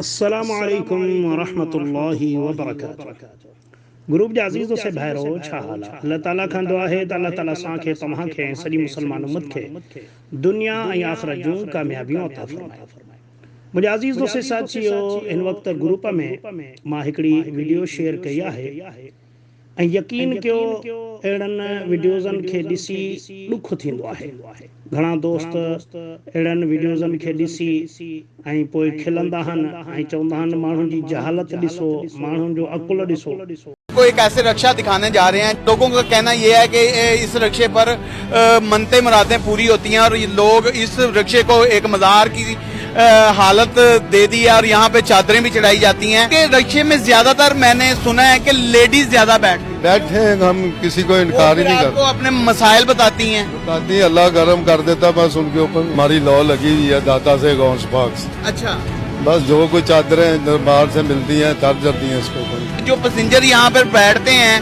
السلام عليڪم ورحمة الله وبرڪاته گروپ جا عزيز دوست ۽ ڀائرو ڇا حال آ الله تعالي کان دعا آهي ته الله تعالي اسان کي توهان کي ۽ سڄي مسلمان امت کي دنيا ۽ آخرت جون ڪاميابيون عطا فرمائي منهنجا عزيز دوست ساٿيو هن وقت گروپ ۾ مان هڪڙي وڊيو شيئر ڪئي آهي ۽ يقين ڪيو اهڙن وڊيوزن کي ڏسي ڏک ٿيندو آهي گهڻا دوست اهڙن وڊيوزن کي ڏسي ۽ پوء کلندا آهن ۽ چوندا آهن ماڻهن جي جهالت ڏسو ماڻهن جو عقل ڏسو. ڪو هڪ ايسي رڪشا دکاني جا رهي هين لوگون ڪا ڪهنا يي هي ڪي اس رڪشي پر منتين مرادين پوري هوتي هين اور لوگ اس رڪشي ڪو ايڪ مزار ڪي حالت دي دي هي اور يهان پي چادرين بي چڙهائي جاتي هين ڪي رڪشي مي زياده تر مين ني سنا هي ڪي ليڊيز زياده بيٺ بيٺ هي هم ڪسي ڪو انڪار هي نهي ڪرتي وو اپني مسائل بتاتي هين بتاتي هين الله گرم ڪر ديتا بس ان ڪي اوپر هماري لو لگي هوئي هي داتا سي غوث پاڪ سي اڇا بس جو ڪچ چادرين دربار سي ملتي هين تر جاتي هين اسڪو جو پسينجر يهان پر بيٺتي هين.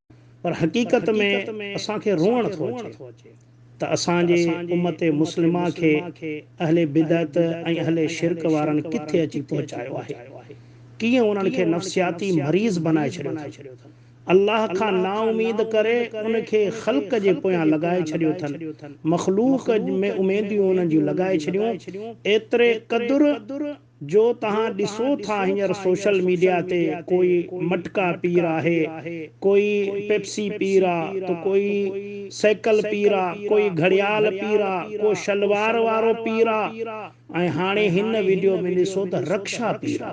پر حقيقت ۾ اسان کي روئڻ ٿو اچي ته اسان جي امت مسلمه کي اهل بدعت ۽ اهل شرڪ وارن ڪٿي اچي پهچايو آهي. ڪيئن انهن کي نفسياتي مريض بنائي ڇڏيو اٿن. الله کان نااميد ڪري ان کي خلق جي پويان لڳائي ڇڏيو اٿن. مخلوق ۾ اميديون انهن جون لڳائي ڇڏيون ايتري قدر جو توهان ڏسو ٿا هينئر سوشل ميڊيا تي ڪوئي مٽڪا پير آهي، ڪوئي پيپسي پير آ، ته ڪوئي سيڪل پير آ، ڪوئي گهڙيال پير آ، ڪو شلوار وارو پير آ ۽ هاڻي هن وڊيو ۾ ڏسو ته رڪشا پير آ.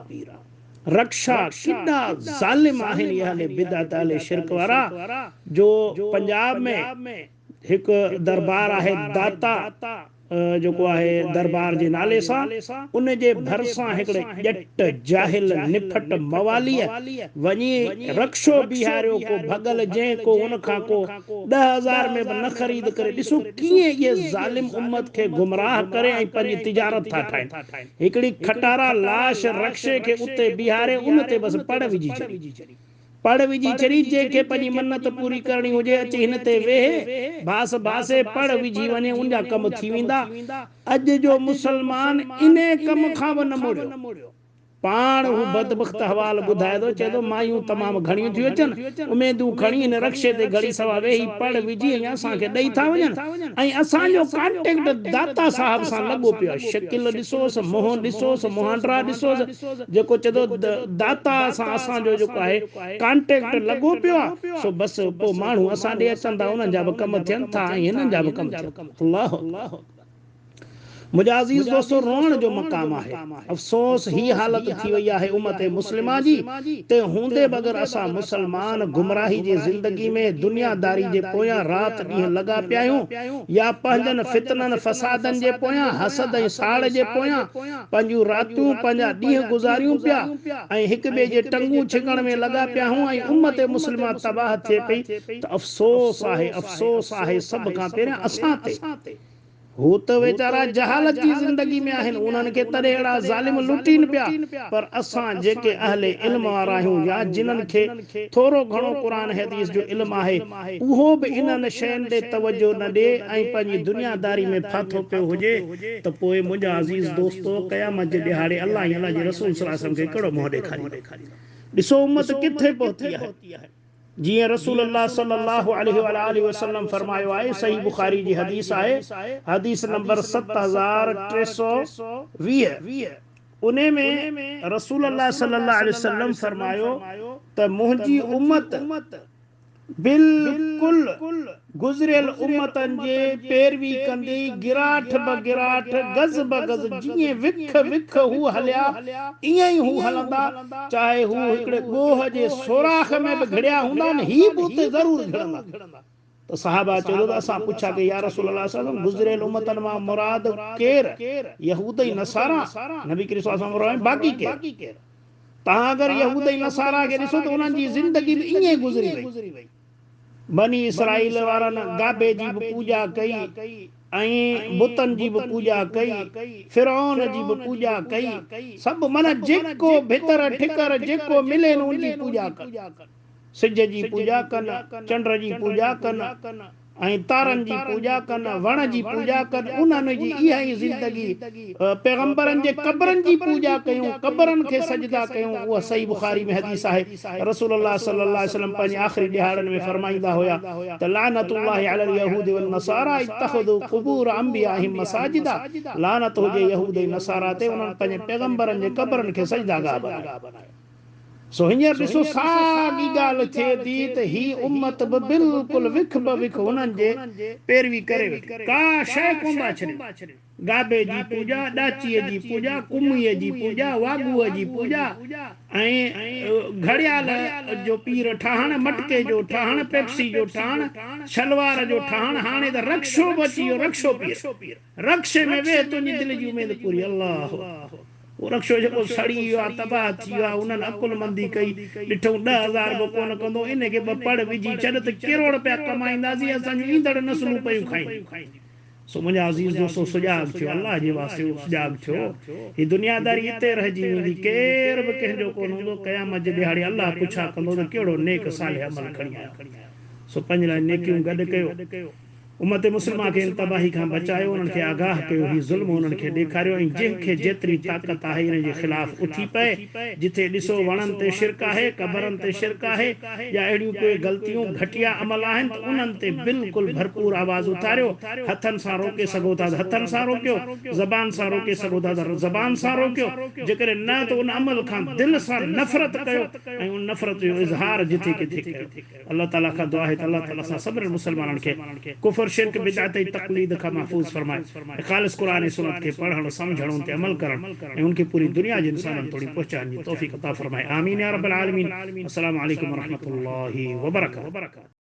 رڪشا ڪيڏا ظالم آهن اهل بدعت اهل شرڪ وارا جو پنجاب ۾. هڪ درٻار آهي داتا جيڪو آهي درٻار جي نالي سان، ان جي ڀرسان هڪڙي ڄٽ، جاهل، نڦٽ، مواليء، وڃي رڪشو بيهاريو ڪو ڀڳل جنهن ڪو ان کان ڪو ڏهه هزار ۾ به نه خريد ڪري ڏسو ڪيئن اهي ظالم امت کي گمراهه ڪري ۽ پنهنجي تجارت ٿا ٺاهين هڪڙي کٽارا لاش رڪشي کي اتي بيهاري ان تي بس پڙ وجهي ڇڏي. پڙ وجهي چري جنهن کي پنهنجي منت پوري ڪرڻي هجي اچي هن تي ويهي ڀاس ڀاسي پڙ وجهي وڃي ان جا ڪم ٿي ويندا اڄ جو مسلمان انهي ڪم کان به نه مڙيو پاڻ هو بدبخت حوال ٻڌائي ٿو چئي ٿو مايون تمام گهڻيون ٿيون اچن اميدون کڻي هن رڪشي تي گهڙي سوا ويهي پڙ وجهي ۽ اسان کي ڏئي ٿا وڃن ۽ اسان جو ڪانٽيڪٽ داتا صاحب سان لڳو پيو آهي شڪل ڏسوس منهن ڏسوس مهانڊرا ڏسوس جيڪو چئي ٿو ته داتا سان اسان جو جيڪو آهي ڪانٽيڪٽ لڳو پيو آهي سو بس پوء ماڻهو اسان ڏي اچن ٿا انهن جا به ڪم ٿين ٿا ۽ هنن جا به ڪم ٿين ٿا الله اڪبر منهنجا عزيز دوستو روئڻ جو مقام آهي افسوس هي حالت ٿي وئي آهي امت مسلمه جي تنهن هوندي به اگر اسان مسلمان گمراهي جي زندگي ۾ دنيا داري جي پويان رات ڏينهن لڳا پيا آهيون يا پنهنجن فتنن فسادن جي پويان حسد ۽ ساڙ جي پويان پنهنجون راتيون، پنهنجا ڏينهن گذاريون پيا ۽ هڪ ٻئي جي ٽنگون ڇڪڻ ۾ لڳا پيا هون ۽ امت مسلمه تباهه ٿئي پئي ته افسوس آهي، افسوس آهي سڀ کان پهريان اسان تي. هو ته ويچارا جهالت جي زندگي ۾ آهن، انهن کي تڏهن اهڙا ظالم لٽين پيا، پر اسان جيڪي اهل علم وارا آهيون يا جنهن کي ٿورو گهڻو قرآن حديث جو علم آهي، اهو به انهن شين ڏي توجهه نه ڏي ۽ پنهنجي دنيا داري ۾ ڦاٿو پيو هجي ته پوء منهنجا عزيز دوستو! قيامت جي ڏهاڙي الله ۽ الله جي رسول صلي وسلم کي ڪهڙو منهن ڏيکاريندو؟ ڏسو امت ڪٿي پهتي آهي. جيئن رسول الله صلي الله عليه واٰله وسلم فرمايو آهي، صحيح بخاري جي حديث آهي، حديث نمبر ست هزار ٽي سؤ ويهه، انهي ۾ رسول الله صلي الله عليه وسلم فرمايو ته منهنجي امت، بلڪل گذريل امتن جي پيروي ڪندي گراٺ به گراٺ گز به گز جيئن وک وک هو هليا ايئن ئي هو هلندا چاهي هو هڪڙي ڳوهه جي سوراخ ۾ به گهڙيا هوندا نه هي به اتي ضرور گهڙندا ته صحابه چيو ته اسان پڇا ڪئي يا رسول الله صلعم گذريل امتن مان مراد ڪير يهود ۽ نصارا نبي ڪريم صلعم فرمايو باقي ڪير تان اگر يهود ۽ نصارا کي ڏسو ته انهن جي زندگي به ائين گذري وئي. بني اسرائيل وارن گابي جي به پوڄا ڪئي ۽ بتن جي به پوڄا ڪئي، فرعون جي به پوڄا ڪئي، سڀ معنيٰ جيڪو ڀتر ٺڪر جيڪو ملين ان جي پوڄا ڪن. سج جي پوڄا ڪن، چنڊ جي پوڄا ڪن، ۽ تارن جي پوڄا ڪن، وڻ جي پوڄا ڪن، انهن جي اها ئي زندگي، پيغمبرن جي قبرن جي پوڄا ڪيون، قبرن کي سجدا ڪيون، اها صحيح بخاري ۾ حديث آهي، رسول الله صلي الله عليه وسلم پنهنجي آخري ڏهاڙن ۾ فرمائيندا هيا ته لعنت الله علي اليهود والنصاري اتخذوا قبور انبيائهم مساجدا، لعنت هجي يهود ۽ نصارا تي انهن پنهنجي پيغمبرن جي قبرن کي سجداگاهه بنايو. سو هينئر ڏسو ساڳي ڳالهه ٿئي ٿي ته هي امت به بلڪل وک به وک هنن جي پيروي ڪري ويٺي. ڪا شيء ڪونه ٿا ڇڏين. گابي جي پوڄا، ڏاچيء جي پوڄا، ڪميء جي پوڄا، واڳوء جي پوڄا ۽ گهڙيال جو پير ٺاهڻ، مٽڪي جو ٺاهڻ، پيپسي جو ٺاهڻ، شلوار جو ٺاهڻ، هاڻي ته رڪشو به اچي ويو، رڪشو پير. رڪشي ۾ ويهه تنهنجي دل جي اميد پوري الله هو اهو رڪشو جيڪو سڙي ويو آهي تباهه ٿي ويو آهي انهن عقلمندي ڪئي ڏٺئون ڏهه هزار به ڪونه ڪندو انهي کي ٻه پڙ وجهي ڇڏ ته ڪروڙ پيا ڪمائينداسين اسان جون ايندڙ نسلون پيون کائين سو منهنجا عزيز دوستو سجاڳ ٿيو الله جي واسطي اهو سجاڳ ٿيو هي دنياداري اتي رهجي ويندي ڪير به ڪنهن جو ڪونه هوندو قيامت جي ڏهاڙي الله پڇا ڪندو ته ڪهڙو نيڪ صالح عمل کڻي آيو سو پنهنجي لاء نيڪيون گڏ ڪيو امت مسلمه کي ان تباهي کان بچايو، انهن کي آگاهه ڪيو، هي ظلم انهن کي ڏيکاريو ۽ جنهن کي جيتري طاقت آهي انهن جي خلاف اٿي پئي، جتي ڏسو وڻن تي شرڪ آهي، قبرن تي شرڪ آهي يا اهڙيون ڪوئي غلطيون، گهٽيا عمل آهن ته انهن تي بلڪل ڀرپور آواز اٿاريو، هٿن سان روڪي سگهو ٿا ته هٿن سان روڪيو، زبان سان روڪي سگهو ٿا ته زبان سان روڪيو، جيڪڏهن نه ته ان عمل کان دل سان نفرت ڪيو ۽ ان نفرت جو اظهار جٿي ڪٿي ڪيو. الله تعالي کان دعا آهي ته الله تعالي اسان سڀني مسلمانن کي ڪفر، شرڪ، بدعت ۽ تقليد کان محفوظ فرمائي ۽ خالص قرآن ۽ سنت کي پڙهڻ، سمجهڻ، ان تي عمل ڪرڻ ۽ ان کي پوري دنيا جي انسانن توڻي پهچائڻ جي توفيق عطا فرمائي. آمين يا رب العالمين. السلام عليڪم ورحمة الله وبرڪاته.